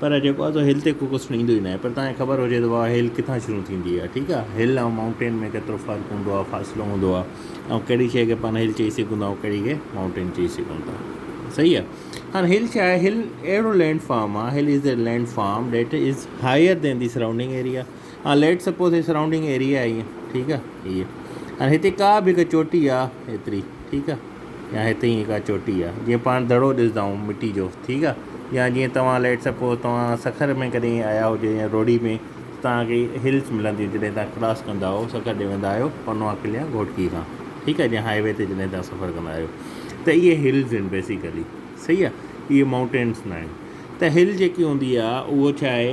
پر جيڪو آهي سو هل تي ڪو ڪوسٽن ايندو ئي ناهي پر توهان کي خبر هجي ته واهه هل ڪٿان شروع ٿيندي آهي ٺيڪ آهي هل ۽ مائونٽين ۾ ڪيترو فرق هوندو آهي فاصلو هوندو آهي ۽ ڪهڙي شيء کي پاڻ هل چئي سگهون ٿا ۽ ڪهڙي کي مائونٽين چئي سگهون ٿا صحيح آهي هاڻ هل ڇا آهي هل اهڙو لينڊ فارم آهي hill is a land form that is higher than the surrounding area ها ليٽس سپوز هي سرائونڊنگ ايريا آهي ائين ٺيڪ آهي هيء هاڻي هتي ڪا به هڪ چوٽي آهي ايتري ٺيڪ آهي يا هتي ائين ڪا چوٽي آهي جيئن پاڻ دڙو ڏسندا آهيون مٽي جو ٺيڪ آهي يا جيئن توهان ليٽس سپوز توهان سکر ۾ ڪڏهن آيا هجو يا روهڙي ۾ توهان کي هلس ملنديون جڏهن تان ڪراس ڪندا آهيو سکر ڏي ويندا آهيو پنوا قلعي يا گهوٽڪي کان ٺيڪ آهي جيئن هاء وي تي جڏهن تان سفر ڪندا آهيو ته اهي هلس آهن بيسيڪلي صحيح آهي اهي مائونٽينس نه آهن ته هل جيڪي هوندي آهي اهو ڇا آهي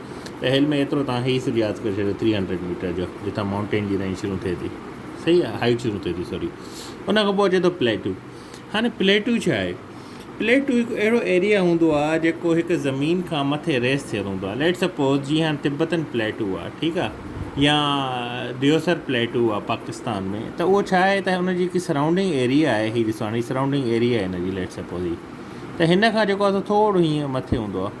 پهل ۾ ايترو تان هي سج ياد ڪري ڇڏيو ٿري هنڊريڊ ميٽر جو جتان مائونٽين جي رينج شروع ٿئي ٿي صحيح آهي هائيٽ شروع ٿئي ٿي سوري ان کان پوء اچي ٿو پليٽو هاڻي پليٽو ڇا آهي پليٽو هڪ اهڙو ايريا هوندو آهي جيڪو هڪ زمين کان مٿي ريس ٿيل هوندو آهي ليٽ سپوز جي هاڻي تبتن پليٽو آهي ٺيڪ آهي يا ديوسر پليٽو آهي پاڪستان ۾ ته اهو ڇا آهي ته ان جي هڪ سرائونڊنگ ايريا آهي هي ڏسو هاڻي سرائونڊنگ ايريا آهي هن جي ليٽ سپوز هي ته هن کان جيڪو آهي سو ٿورو هيئن مٿي هوندو آهي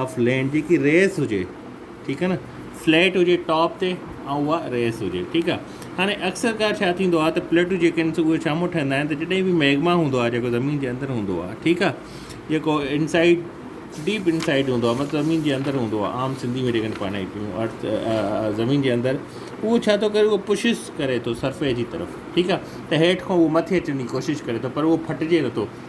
آف لينڊ جيڪي ريس هجي ٺيڪ آ نه فليٽ هجي ٽاپ تي ۽ اها ريس هجي ٺيڪ آ هاڻي اڪثر ڪار ڇا ٿيندو آ ته پليٽون جيڪي آهن سو اهي ڇا مون ٺهندا آهن ته جڏهن به ميگما هوندو آ جيڪو زمين جي اندر هوندو آ ٺيڪ آ جيڪو انسائيڊ ڊيپ انسائيڊ هوندو آ مطلب زمين جي اندر هوندو آ عام سنڌي ۾ جيڪي پاڻ اچون ارٿ زمين جي اندر اهو ڇا ٿو ڪري اهو پشس ڪري ٿو سرفيس جي طرف ٺيڪ آ ته هيٺ کان اهو مٿي اچڻ جي ڪوشش ڪري ٿو پر اهو ڦٽجي نٿو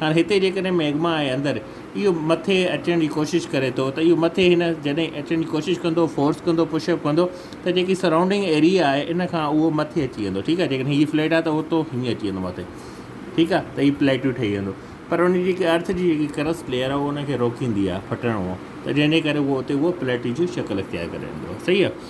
هاڻ هتي جيڪڏهن مئگما ۽ اندر اهو مٿي اچڻ جي ڪوشش ڪري ٿو ته اهو مٿي هن جڏهن اچڻ جي ڪوشش ڪندو فورس ڪندو پش اپ ڪندو ته جيڪي سرائونڊنگ ايريا آهي ان کان اهو مٿي اچي ويندو ٺيڪ آهي جيڪڏهن هي فليٽ آهي ته اوتو هيئن اچي ويندو مٿي ٺيڪ آهي ته هي پليٽو ٺهي ويندو پر ان جي جيڪي ارٿ جي جيڪي ڪرسٽ ليئر آهي ان کي روڪيندي آهي ڦٽڻ ته جنهن جي ڪري اهو اتي اهو پليٽي جي شڪل اختيار ڪري ويندو صحيح آهي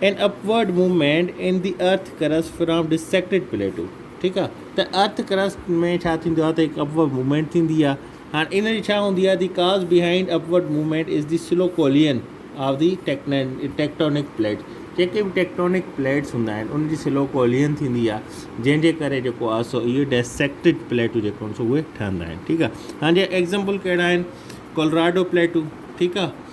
an upward movement in the earth crust from dissected plateau ٺيڪ آ ته ارٿ ڪرسٽ ۾ ڇا ٿيندو آ ته هڪ اپورڊ موومينٽ ٿيندي آ هاڻ ان جي ڇا هوندي آ the cause behind upward movement is the slow collision of the tectonic plate جيڪي به ٽيڪٽونڪ پليٽس هوندا آهن ان جي سلو ڪولين ٿيندي آ جنهن جي ڪري جيڪو آ سو اهي ڊسيڪٽيڊ پليٽو جيڪو آهن سو اهي ٺهندا آهن ٺيڪ آ هاڻ جي ايگزامپل ڪهڙا آهن ڪولراڊو پليٽو ٺيڪ آ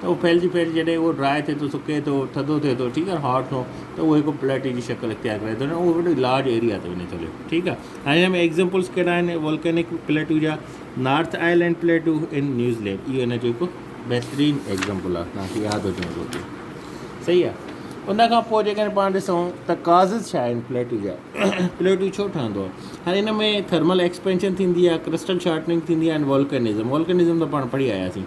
ته اهو ڦهلجي ڦهلجي جڏهن اهو ڊراء ٿئي ٿو، سڪي ٿو، ٿڌو ٿئي ٿو، ٺيڪ آهي، هاٽ ٿو، ته اهو هڪ پليٽي جي شڪل اختيار ڪرائي ٿو ڏيڻ، اهو وڏي لارج ايريا تي وڃي ٿو هلي، ٺيڪ آهي. هاڻي هن ۾ ايگزيمپلز ڪهڙا آهن والڪينڪ پليٽو جا، North Island plateau in New Zealand, اهو هن جو هڪ بهترين ايگزيمپل آهي، توهان کي ياد هجڻ گهرجي، صحيح آهي. ان کان پوء جيڪڏهن پاڻ ڏسون ته ڪازز ڇا آهن پليٽو جا، پليٽو ڇو ٺهندو آهي، هاڻي هن ۾ ٿرمل ايڪسپينشن ٿيندي آهي، ڪرسٽل شارٽننگ ٿيندي آهي ۽ والڪينزم، والڪينزم ته پاڻ پڙهي آياسين،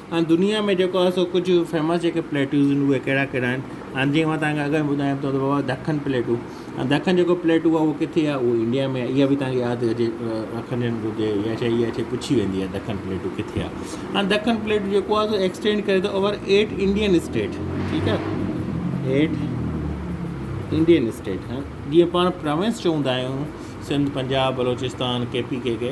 ۽ دنيا ۾ جيڪو آهي سو ڪجهه فيمس جيڪي پليٽون آهن اهي ڪهڙا ڪهڙا آهن ۽ جيئن تنهن کي اگر ٻڌايان ته بابا دکن پليٽون ۽ دکن جيڪو پليٽون آهي اهو ڪٿي آهي اهو انڊيا ۾ اها به تنهن کي ياد هجي رکڻ گهرجي اها شي اها شي پڇي ويندي آهي دکن پليٽون ڪٿي آهي ۽ دکن پليٽون جيڪو آهي سو ايڪسٽينڊ ڪري ٿو اوور ايٽ انڊين اسٽيٽ ٺيڪ آهي ايٽ انڊين اسٽيٽ ها جيئن پاڻ پراونس چوندا آهيون Sindh Punjab Balochistan K P K ڪي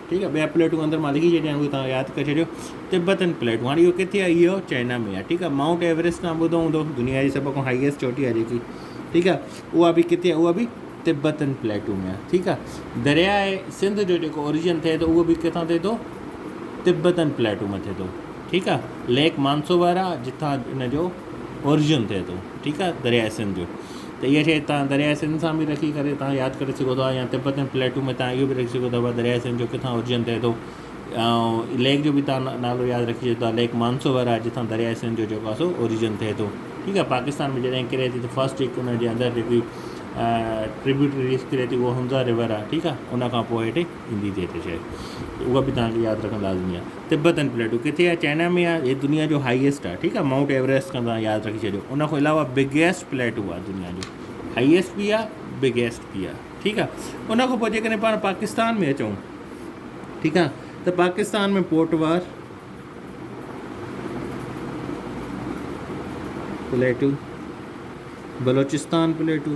ٺيڪ آ ٻيا پليٽون اندر مان لکي ڇڏيا آھن اھي توھان ياد ڪري ڇڏيو تبتن پليٽون ھاڻي اھو ڪٿي آ اھو چائنا ۾ آ ٺيڪ آ مائونٽ ايوريسٽ توھان ٻڌو ھوندو دنيا جي سڀ کان ھائيسٽ چوٽي آ جيڪي ٺيڪ آ اھا به ڪٿي آ اھا به تبتن پليٽون ۾ آ ٺيڪ آ درياء سنڌ جو جيڪو اوريجن ٿئي ٿو اھو به ڪٿان ٿئي ٿو تبتن پليٽون مان ٿئي ٿو ٺيڪ آ ليڪ مانسوبر آ جتان ان جو اوريجن ٿئي ٿو ٺيڪ آ درياء سنڌ جو ته اها شيء توهان درياء سنڌ سان به رکي ڪري توهان ياد ڪري سگهو ٿا يا تبت ۽ پليٽو ۾ توهان اهو به رکي سگهو ٿا ته درياء سنڌ جو ڪٿان اورجن ٿئي ٿو ۽ ليڪ جو به توهان نالو ياد رکي سگهو ٿا ليڪ مانسوور آهي جتان درياء سنڌ جو جيڪو آهي سو اورجن ٿئي ٿو ٺيڪ آهي پاڪستان ۾ جڏهن ڪري ٿي ته فسٽ جيڪي ان جي اندر جيڪي ٽريبيوٽريز ڪري ٿي اهو حمزه رور آهي ٺيڪ آهي ان کان پوء هيٺ ايندي ٿئي ته شايد ته اها به توهان کي ياد رکڻ لازمي آهي تبتن پليٽو ڪٿي آهي چائنا ۾ آهي هي دنيا جو هائيسٽ آهي ٺيڪ آهي مائونٽ ايوريسٽ کان توهان ياد رکي ڇڏيو ان کان علاوه بگيسٽ پليٽو آهي دنيا جو هائيسٽ بي آهي بگيسٽ بي آهي ٺيڪ آهي ان کان پوء جيڪڏهن پاڻ پاڪستان ۾ اچون ٺيڪ آهي ته Pakistan ۾ Potwar plateau Balochistan plateau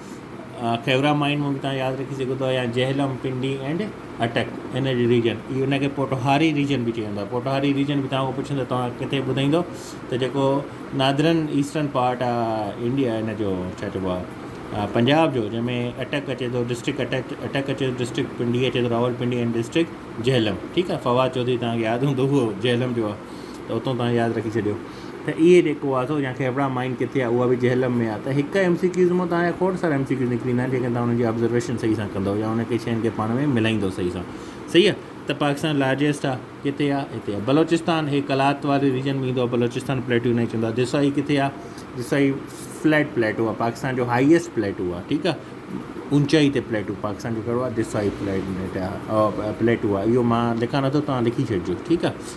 Khewra mine مون کي تان ياد رکي سگهو ٿا يا جهلم پنڊي اينڊ اٽڪ ان جي ريجن اي ان کي پوٽوهاري ريجن به چيندا پوٽوهاري ريجن به تان کي پڇندو تان کي ٻڌائيندو ته جيڪو نادرن ايسٽرن پارٽ آهي انڊيا ان جو ڇا چئبو آهي پنجاب جو جنهن ۾ اٽڪ اچي ٿو ڊسٽرڪٽ اٽيڪ اٽڪ اچي ٿو ڊسٽرڪٽ پنڊي اچي ٿو Rawalpindi and district Jhelum ٺيڪ آهي فواد چوڌري تان کي ياد هوندو هو جهلم جو آهي ته اتو تان ياد رکي ڇڏيو ته اهي ڏيکو آسو يا کيبڙا مائين ڪٿي آ اها به جهلم ۾ آ ته هڪ ايم سي ڪيوز مان توهان جا کوڙ سارا ايم سي ڪيوز نڪري ايندا آهن جيڪڏهن توهان انهن جي آبزرويشن صحيح سان ڪندؤ يا انهن کي شين کي پاڻ ۾ ملائيندؤ صحيح سان صحيح آ ته پاڪستان لارجيسٽ آ ڪٿي آ هتي آ بلوچستان هي قلات واري ريجن ۾ ايندو آ بلوچستان پليٽو انهي کي چوندو آ دسائي ڪٿي آ دسائي فليٽ پليٽو آ پاڪستان جو هائيسٽ پليٽو آ ٺيڪ آ اونچائي تي پليٽو پاڪستان جو ڪهڙو آ دسائي پليٽ آ پليٽو آ اهو مان لکان نٿو توهان لکي ڇڏجو ٺيڪ آ